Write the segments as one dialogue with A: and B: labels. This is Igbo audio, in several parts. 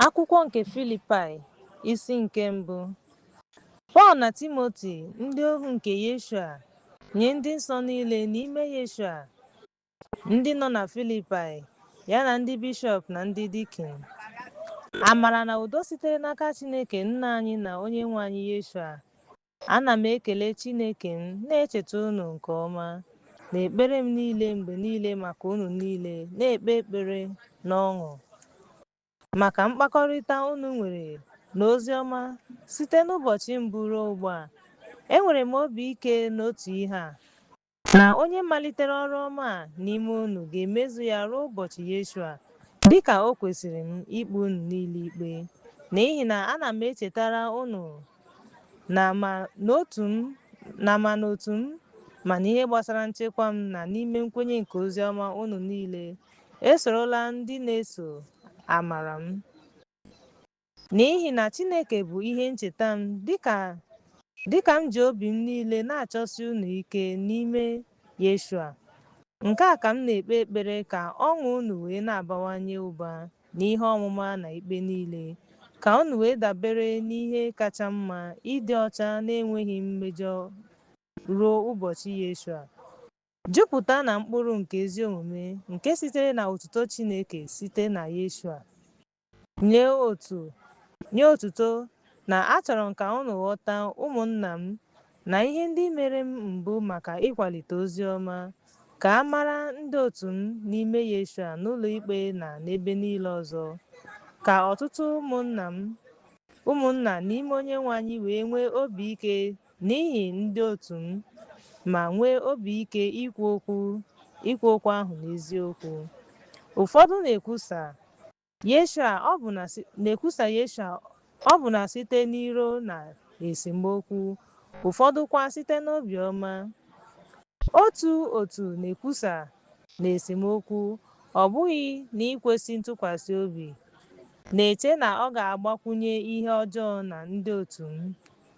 A: Akwụkwọ nke Filipaị, isi nke mbụ. Pọl na Timoti, ndị ohu nke Yeshua, nye ndị nsọ niile n'ime Yeshua, ndị nọ na Filipaị, ya na ndị bishọp na ndị dikin. Amara na udo sitere n'aka Chineke Nna anyị na Onyenwe anyị Yeshua, Ana m ekele Chineke m, na-echeta unu nke ọma n'ekpere m niile mgbe niile maka unu niile, na-ekpe ekpere n'ọṅụ maka mkpakọrịta unu nwere na ozi ọma site n'ụbọchị mbụ ruo ugbu a. Enwere m obi ike n'otu ihe a. Na onye malitere ọrụ ọma a n'ime unu ga-emezu ya ruo ụbọchị Yeshua, dịka o kwesịrị m ikpe unu niile ikpe. N'ihi na ana m echetara unu na ma n'otu m na ma n'otu m ma n'ihe gbasara nchekwa m na n'ime nkwenye nke ozi ọma unu niile esorola ndị na-eso amara m. N'ihi na Chineke bụ ihe ncheta m, dịka dịka m ji obi m niile na-achọsi unu ike n'ime Yeshua. Nke a ka m na-ekpe ekpere ka ọṅụ unu wee na-abawanye ụba n'ihe ọmụma na ikpe niile, ka unu wee dabere n'ihe kacha mma, ịdị ọcha na-enweghị mmejọ ruo ụbọchị Yeshua, jupụta na mkpụrụ nke ezi omume nke sitere na otuto Chineke site na Yeshua. Nye otu, nye otuto, na achọrọ m ka unu ghọta, ụmụnna m, na ihe ndị mere m bụ maka ịkwalite ozi ọma, ka a mara ndị otu m n'ime Yeshua n'ụlọikpe na n'ebe niile ọzọ, ka ọtụtụ ụmụnna m, ụmụnna n'ime Onyenwe anyị wee nwee obi ike N'ihi ndị otu m, ma nwee obi ike ikwu okwu ikwu okwu ahụ n'eziokwu. Ụfọdụ na-ekwusa Yeshua ọbụna na-ekwusa Yeshua ọbụna site n'iro na esemokwu, ụfọdụkwa site n'obiọma. Otu otu na-ekwusa n'esemokwu, ọ bụghị n'ikwesị ntụkwasị obi, na-eche na ọ ga-agbakwụnye ihe ọjọọ na ndị otu m.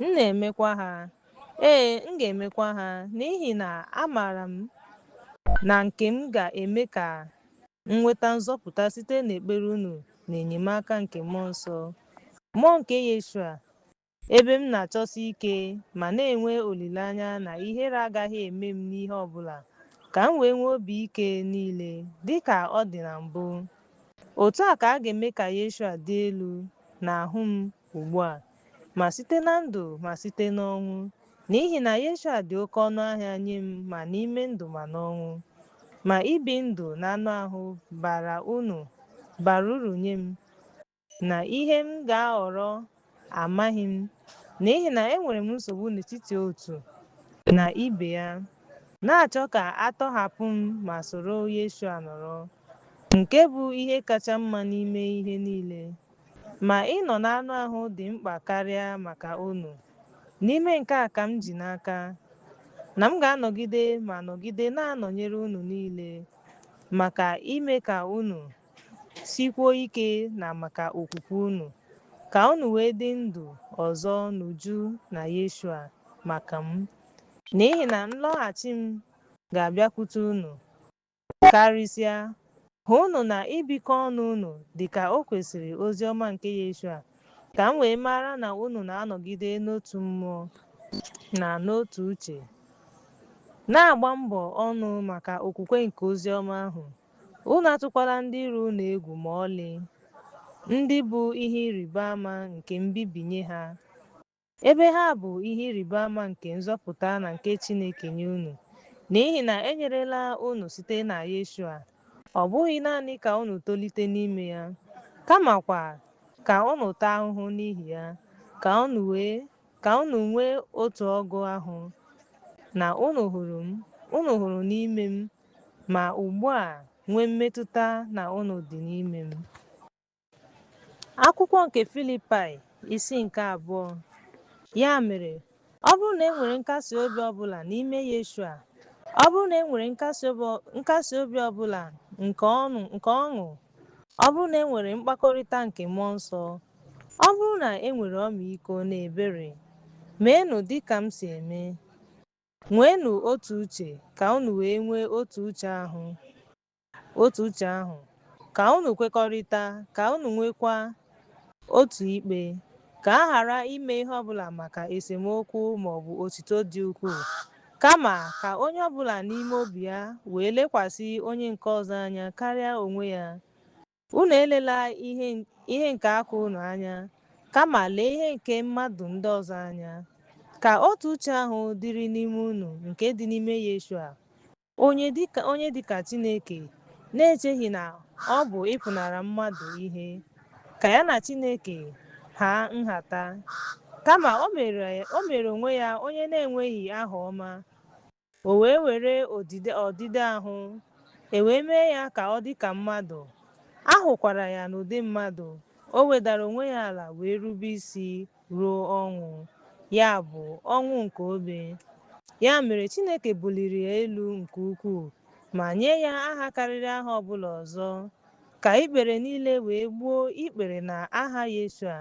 A: M na-emekwa ha. Ee, m ga-emekwa ha, n'ihi na amaara m na nke m ga-eme ka m nweta nzọpụta site n'ekpere unu na enyemaka nke mmụọ nsọ. Mmụọ nke Yeshua, ebe m na-achọsi ike ma na-enwe olileanya na ihere agaghị eme m n'ihe ọ bụla, ka m wee nwee obi ike niile dị ka ọ dị na mbụ. Otu a ka a ga-eme ka Yeshua dị elu n'ahụ m ugbu a. ma site na ndụ ma site n'ọnwụ, n'ihi na Yeshua dị oke ọnụ ahịa nye m ma n'ime ndụ ma n'ọnwụ. Ma ibi ndụ n'anụ ahụ bara unu bara uru nye m, na ihe m ga-ahọrọ amaghị m, n'ihi na enwere m nsogbu n'etiti otu na ibe ya, na-achọ ka a tọhapụ m ma soro Yeshua nọrọ, nke bụ ihe kacha mma n'ime ihe niile. Ma ịnọ n'anụ ahụ dị mkpa karịa maka unu. N'ime nke a ka m ji n'aka, na m ga-anọgide ma nọgide na-anọnyere unu niile, maka ime ka unu sikwuo ike na maka okwukwe unu, ka unu wee dị ndụ ọzọ n'uju na Yeshua maka m. N'ihi na nlọghachi m ga-abịakwute unu, Karịsịa, hụnụ na ibikọ ọnụ unu dị ka o kwesịrị ozi ọma nke Yeshua, ka m wee mara na unu na-anọgide n'otu mmụọ na n'otu uche, na-agba mbọ ọnụ maka okwukwe nke ozi ọma ahụ. Unu atụkwala ndị iro unu egwu ma ọlị, ndị bụ ihe ịrịba ama nke mbibi nye ha. Ebe ha bụ ihe ịrịba ama nke nzọpụta na nke Chineke nye unu, n'ihi na e nyerela unu site na Yeshua, ọ bụghị naanị ka unu tolite n'ime ya, kamakwa ka unu taa ahụhụ n'ihi ya, ka unu wee ka unu nwee otu ọgụ ahụ, na unu hụrụ m, unu hụrụ n'ime m, ma ugbu a nwee mmetụta na unu dị n'ime m. Akwụkwọ nke Filipaị isi nke abụọ Ya mere, ọ bụrụ na e nwere nkasi obi ọbụla n'ime Yeshua, ọ bụrụ na e nwere nkasi obi ọbụla nke ọṅụ, ọ bụrụ na e nwere mkpakọrịta nke mmụọ nsọ, ọ bụrụ na e nwere ọmịiko na ebere, meenụ dị ka m si eme. Nweenụ otu uche ka unu wee nwee otu uche ahụ. Otu uche ahụ, ka unu kwekọrịta, ka unu nwekwa otu ikpe, ka a ghara ime ihe ọ bụla maka esemokwu ma ọ bụ otito dị ukwuu, kama ka onye ọ bụla n'ime obi ya wee lekwasị onye nke ọzọ anya karịa onwe ya. Unu elela ihe nke aka unu anya, kama lee ihe nke mmadụ ndị ọzọ anya. Ka otu uche ahụ dịrị n'ime unu nke dị n'ime Yeshua. Onye dị ka Chineke, na-echeghị na ọ bụ ịpụnara mmadụ ihe, ka ya na Chineke haa nhata. Kama o mere onwe ya onye na-enweghị aha ọma, O wee were ọdịdị ahụ, e wee mee ya ka ọ dị ka mmadụ, a hụkwara ya n'ụdị mmadụ, o wedara onwe ya ala wee rube isi ruo ọnwụ, ya bụ, ọnwụ nke obe. Ya mere Chineke buliri ya elu nke ukwuu ma nye ya aha karịrị aha ọ bụla ọzọ, ka ikpere niile wee gbuo ikpere na aha Yeshua,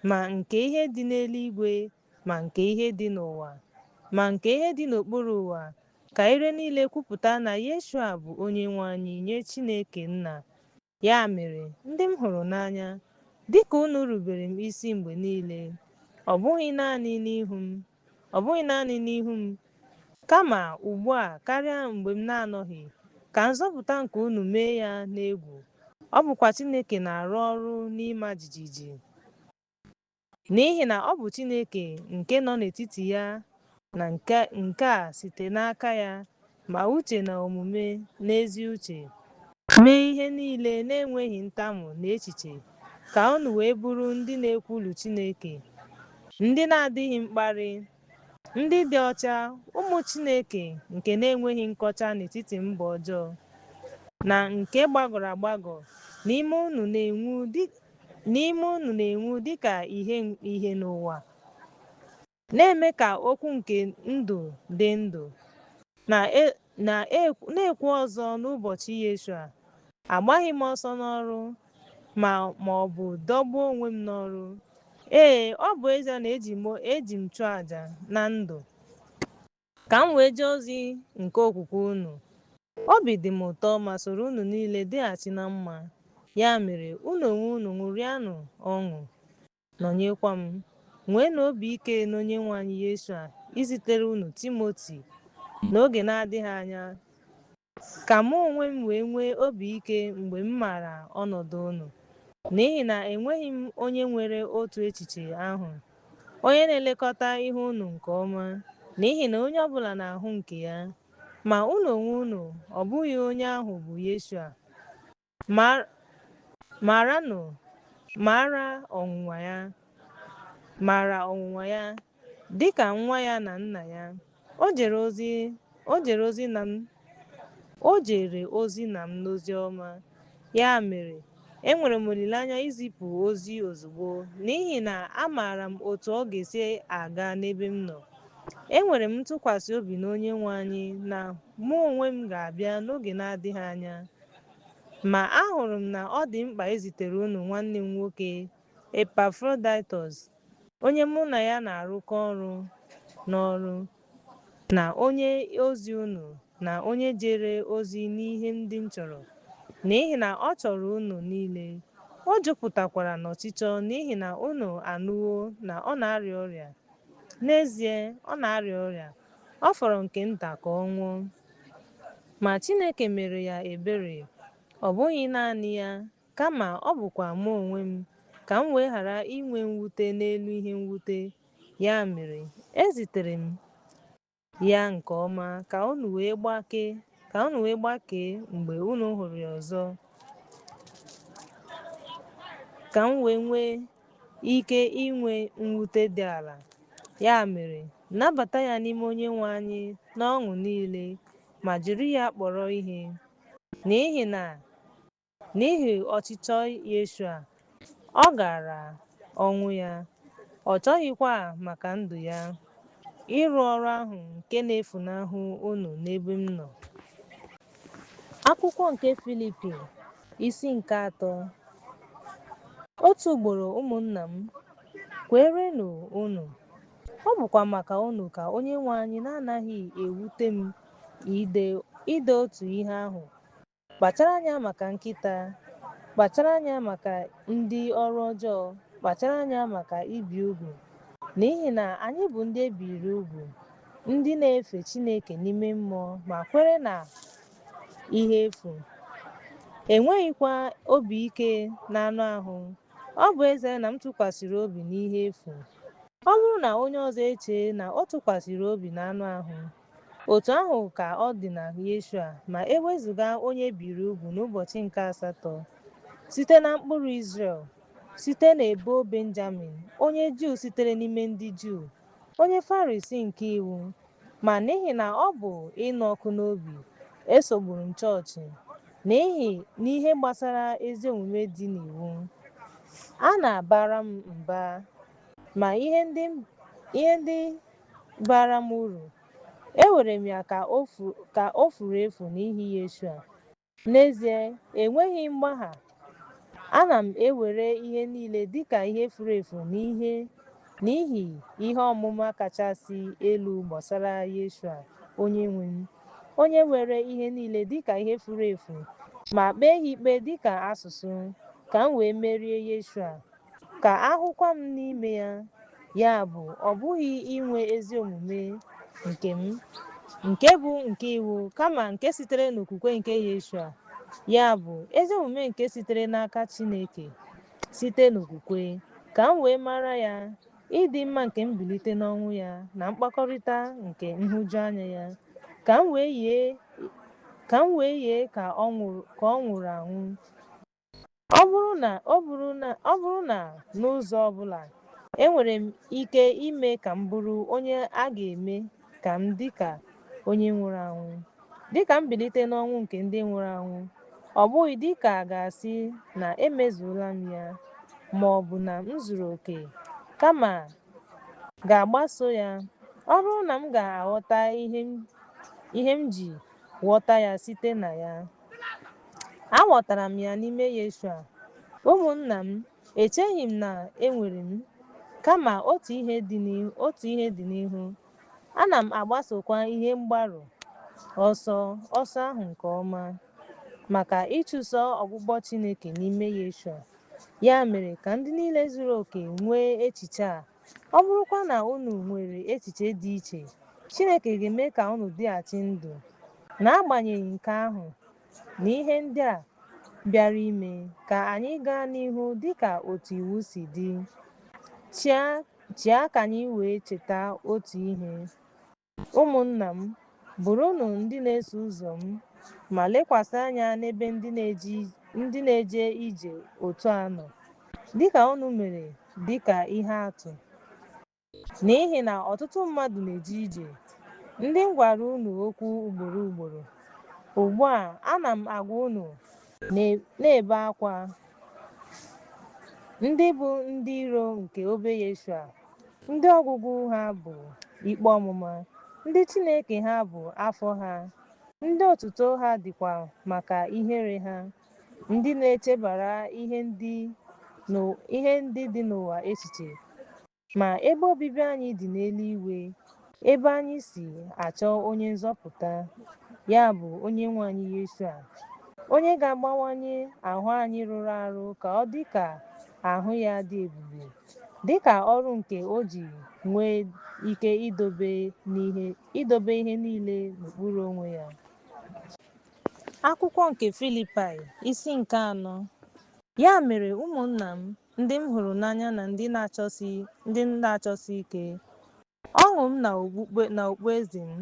A: ma nke ihe dị n'eluigwe, ma nke ihe dị n'ụwa, ma nke ihe dị n'okpuru ụwa, ka ire niile kwupụta na Yeshua bụ Onyenwe anyị nye Chineke Nna. Ya mere, ndị m hụrụ n'anya, dịka unu rubere m isi mgbe niile, ọ bụghị naanị n'ihu m, kama ugbu a karịa mgbe m na-anọghị, ka nzọpụta nke unu mee ya n'egwu, ọ bụkwa Chineke na-arụ ọrụ n'ịma jijiji. N'ihi na ọ bụ Chineke nke nọ n'etiti ya na nke a site n'aka ya, ma uche na omume n'ezi uche. Mee ihe niile na-enweghị ntamu na echiche, ka unu wee bụrụ ndị na-ekwulu Chineke, ndị na-adịghị mkparị, Ndị dị ọcha, ụmụ Chineke nke na-enweghị nkọcha n'etiti mba ọjọọ, na nke gbagọrọ agbagọ n'ime unu na-enwu dị ka ìhè n'ụwa, na-eme ka okwu nke ndụ dị ndụ, na, na-ekwu ọzọ n'ụbọchị Yeshua, agbaghị m ọsọ n'ọrụ, ma ọ bụ dọgbuo onwe m n'ọrụ. Ee, ọ bụ ezie na eji m chụọ aja na ndụ ka m wee jee ozi nke okwukwe unu. Obi dị m ụtọ ma soro unu niile dịghachi na mma. Ya mere, unu onwe unu ṅụrịanụ ọṅụ, nọnyekwa m. Nweenụ obi ike n'Onyenwe anyị Yeshua izitere unu Timoti n'oge na-adịghị anya Ka mụ onwe m wee nwee obi ike mgbe m maara ọnọdụ unu, n'ihi na enweghị m onye nwere otu echiche ahụ, onye na-elekọta ihe unu nke ọma, n'ihi na onye ọ bụla na-ahụ nke ya, ma unu onwe unu, ọ bụghị onye ahụ bụ Yeshua. Maranụ, mara ọnwụnwa ya, dị ka nwa ya na nna ya. O jere ozi na m n'ozi ọma. Ya mere, enwere m olileanya izipụ ozi ozugbo, n'ihi na amaara m otu ọ ga-esi aga n'ebe m nọ. Enwere m ntụkwasị obi n'Onyenwe anyị na mụ onwe m ga-abịa n'oge na-adịghị anya. Ma ahụrụ m na ọ dị mkpa izitere unu nwanne m nwoke Epafroditọs, onye mụ na ya na-arụkọ ọrụ n'ọrụ, na onye ozi unu, na onye jere ozi n'ihe ndị m chọrọ, n'ihi na ọ chọrọ unu niile, o jupụtakwara n'ọchịchọ n'ihi na unu anụwo na ọ na-arịa ọrịa, n'ezie, ọ na-arịa ọrịa, ọ fọrọ nke nta ka ọ nwụọ. Ma Chineke mere ya ebere, ọ bụghị naanị ya, kama ọ bụkwa mụ onwe m, ka m wee ghara inwe mwute n'elu ihe mwute. Ya mere, ezitere m ya nke ọma ka unu wee gbakee mgbe unu hụrụ ya ọzọ, ka m wee nwee ike inwe mwute dị ala. Ya mere, nabata ya n'ime Onyenwe anyị n'ọṅụ niile ma jiri ya kpọrọ ihe. N'ihi na n'ihi ọchịchọ Yeshua, ọ gara ọnwụ ya, ọ chọghịkwa maka ndụ ya ịrụ ọrụ ahụ nke na-efunahụ unu n'ebe m nọ. Akwụkwọ nke Filipi Isi nke atọ. Otu ugboro ụmụnna m, kweerenụ unu. Ọ bụkwa maka unu ka Onyenwe anyị na-anaghị ewute m ide otu ihe ahụ. Kpachara anya maka nkịta, kpachara anya maka ndị ọrụ ọjọọ, kpachara anya maka ibi ugwu, n'ihi na anyị bụ ndị e biiri ugwu, ndị na-efe Chineke n'ime mmụọ ma kwere na ihe efu enweghịkwa obi ike n'anụ ahụ ọ bụ ezie na m tụkwasịrị obi n'ihe efu ọ bụrụ na onye ọzọ echee na ọ tụkwasịrị obi n'anụ ahụ otu ahụ ka ọ dị na Yeshua ma e wezụga onye biri ugwu n'ụbọchị nke asatọ site na mkpụrụ Izrel site n'ebo Benjamin onye Juu sitere n'ime ndị Juu Onye Farisii nke iwu, ma n'ihi na ọ bụ ịnụ ọkụ n'obi, esogburu m chọọchị n'ihi n'ihe gbasara ezi omume dị n'iwu. A na-abara m mba, ma ihe ndị baara m uru, ewere m ya ka o furu efu n'ihi Yeshua. N'ezie, enweghị mgbagha, ana m ewere ihe niile dị ka ihe furu efu n'ihe n'ihi ihe ọmụma kachasị elu gbasara Yeshua, Onyenwe m, onye were ihe niile dị ka ihe furu efu ma kpee ha ikpe dị ka asụsụ, ka m wee merie Yeshua. Ka a hụkwa m n'ime ya, ya bụ, ọ bụghị inwe ezi omume nke m, nke bụ nke iwu, kama nke sitere n'okwukwe nke Yeshua, ya bụ, ezi omume nke sitere n'aka Chineke, site n'okwukwe, ka m wee mara ya, ịdị mma nke mbilite n'ọnwụ ya na mkpakọrịta nke nhụjuanya ya, ka m wee yie ka ọ nwụrụ anwụ. Ọ bụ- ọ bụrụ na n'ụzọ ọ bụla enwere m ike ime ka m bụrụ onye a ga-eme ka m dị ka onye nwụrụ anwụ, dị ka mbilite n'ọnwụ nke ndị nwụrụ anwụ, ọ bụghị dị ka a ga-asị na emezuola m ya ma ọ bụ na m zuru oke, kama ga-agbaso ya, ọ bụrụ na m ga-aghọta ihe m ji ghọta ya site na ya. Aghọtara m ya n'ime Yeshua. Ụmụnna m, echeghị m na enwere m, kama otu otu ihe dị n'ihu. Ana m agbasokwa ihe mgbaru ọsọ ọsọ ahụ nke ọma maka ịchụso ọgbụgbọ Chineke n'ime Yeshua. Ya mere ka ndị niile zuru oke nwee echiche a Ọ bụrụkwa na unu nwere echiche dị iche, Chineke ga-eme ka unu dịghachi ndụ. N'agbanyeghị nke ahụ na ihe ndị a bịara ime, ka anyị gaa n'ihu dị ka otu iwu si dị. Chịa chịa ka anyị wee cheta otu ihe. Ụmụnna m, bụrụnụ ndị na-eso ụzọ m, ma lekwasị anya n'ebe ndị na-eje ije otu a nọ, dịka unu mere dịka ihe atụ. N'ihi na ọtụtụ mmadụ na-eje ije, ndị m gwara unu okwu ugboro ugboro. Ugbu a, ana m agwa unu, na-ebe akwa, ndị bụ ndị iro nke obe Yeshua. Ndị ọgwụgwụ ha bụ ikpe ọmụma, ndị Chineke ha bụ afọ ha, ndị otuto ha dịkwa maka ihere ha, ndị na-echebara ihe ndị dị n'ụwa echiche. Ma ebe obibi anyị dị n'eluigwe, Ebe anyị si achọ onye nzọpụta, ya bụ onye nwe anyị Yeshua, onye ga-agbanwanye ahụ anyị rụrụ arụ ka ọ dị ka ahụ ya dị ebube, dị ka ọrụ nke o ji nwee ike idobe ihe niile n'okpuru onwe ya. Akwụkwọ nke Filipaị isi nke anọ Ya mere ụmụnna m ndị m hụrụ n'anya na ndị m na-achọsi ike, Ọṅụ m na okpueze m,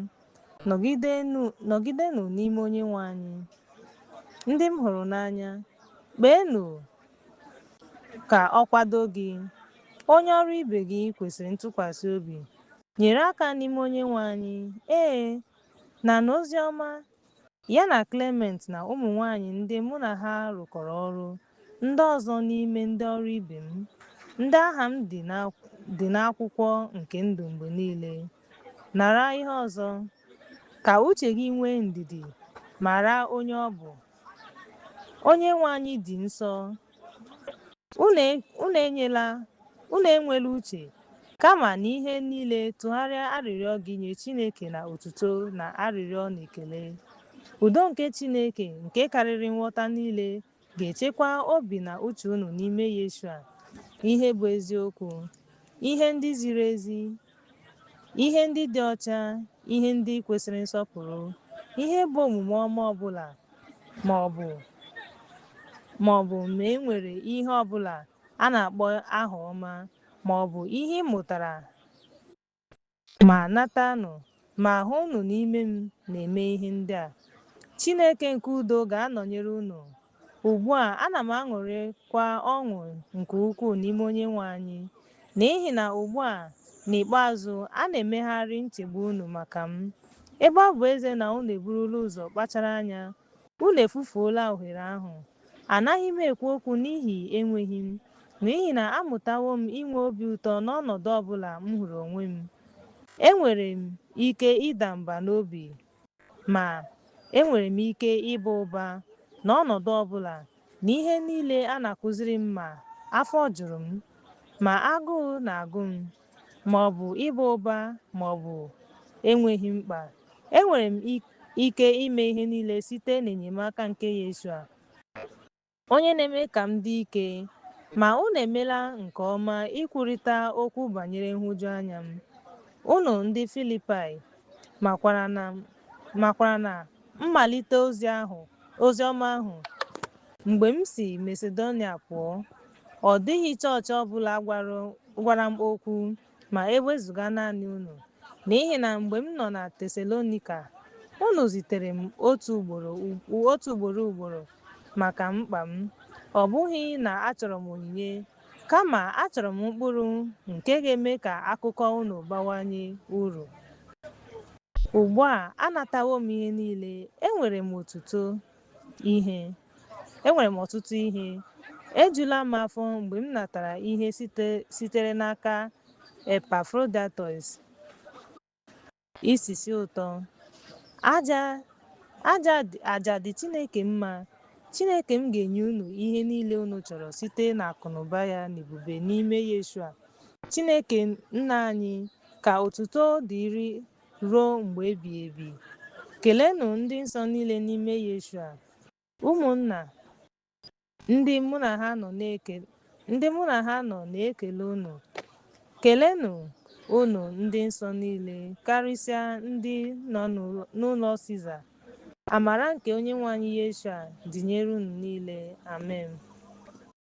A: nọgidenụ n'ime Onyenwe anyị. Ndị m hụrụ n'anya, kpeenụ ka ọ kwado gị. Onye ọrụ ibe gị kwesịrị ntụkwasị obi, nyere aka n'ime Onyenwe anyị. Ee, na n'ozi ọma Ya na Clement na ụmụ nwanyị ndị mụ na ha rụkọrọ ọrụ, ndị ọzọ n'ime ndị ọrụ ibe m, ndị aha m dị n'akwụkwọ nke ndụ mgbe niile. Nara ihe ọzọ. Ka uche gị nwee ndidi, mara onye ọ bụ. Onyenwe anyị dị nsọ, Unu enyela unu enwela uche kama na ihe niile tụgharịa arịrịọ gị nye Chineke na otuto na arịrịọ na ekele. Udo nke Chineke nke karịrị nghọta niile ga-echekwa obi na uche unu n'ime Yeshua, ihe bụ eziokwu, ihe ndị ziri ezi, ihe ndị dị ọcha ihe ndị kwesịrị nsọpụrụ ihe bụ omume ọma ọbụla ma ọ bụ ma e nwere ihe ọbụla a na-akpọ aha ọma ma ọ bụ ihe ị mụtara ma natanụ ma hụnụ n'ime m na-eme ihe ndị a Chineke nke udo ga-anọnyere unu Ugbu a, ana m aṅụrịkwa ọṅụ nke ukwuu n'ime Onyenwe anyị, n'ihi na ugbu a, n'ikpeazụ, a na-emegharị nchegbu unu maka m. Ebe ọ bụ ezie na unu eburula ụzọ kpachara anya, unu efufuola ohere ahụ. Anaghị m ekwu okwu n'ihi enweghị m, n'ihi na amụtawo m inwe obi ụtọ n'ọnọdụ ọ bụla m hụrụ onwe m. Enwere m ike ịda mba n'obi Ma, enwere m ike ịba ụba n'ọnọdụ ọ bụla n'ihe niile a na-akụziri m ma afọ juru m, ma agụụ na-agụ m, ma ọ bụ ịba ụba ma ọ bụ enweghị mkpa. Enwere m ike ime ihe niile site n'enyemaka nke Yeshua. Onye na-eme ka m dị ike. Ma unu emela nke ọma ikwurịta okwu banyere nhụjuanya m. Unu ndị Filipaị makwara na mmalite ozi ọma ahụ mgbe m si Masedonia pụọ, ọ dịghị chọọchị ọ bụla gwara m okwu. ma e wezụga naanị unu, n'ihi na mgbe m nọ na Tesalonika, unu zitere m otu ugboro ugboro maka mkpa m. Ọ bụghị na achọrọ m onyinye, kama achọrọ m mkpụrụ nke ga-eme ka akụkọ unu bawanye uru. Ugbu a anatawo m ihe niile, enwere m otuto, ihe. Enwere m ọtụtụ ihe. Ejula m afọ mgbe m natara ihe sitere n'aka Epafrodaịtọs. Isisi ụtọ. Aja dị Chineke mma. Chineke m ga-enye unu ihe niile unu chọrọ site n'akụnụba ya na ebube n'ime Yeshua. Chineke Nna anyị, ka otuto dịrị ruo mgbe ebighị ebi. Keleenụ ndị nsọ niile n'ime Yeshua. Ụmụnna ndị mụ na ha nọ na-ekele unu. Keleenụ unu ndị nsọ niile, karịsịa ndị nọ n'ụlọ Siza. Amara nke Onyenwe anyị Yeshua dịnyere unu niile. Amen.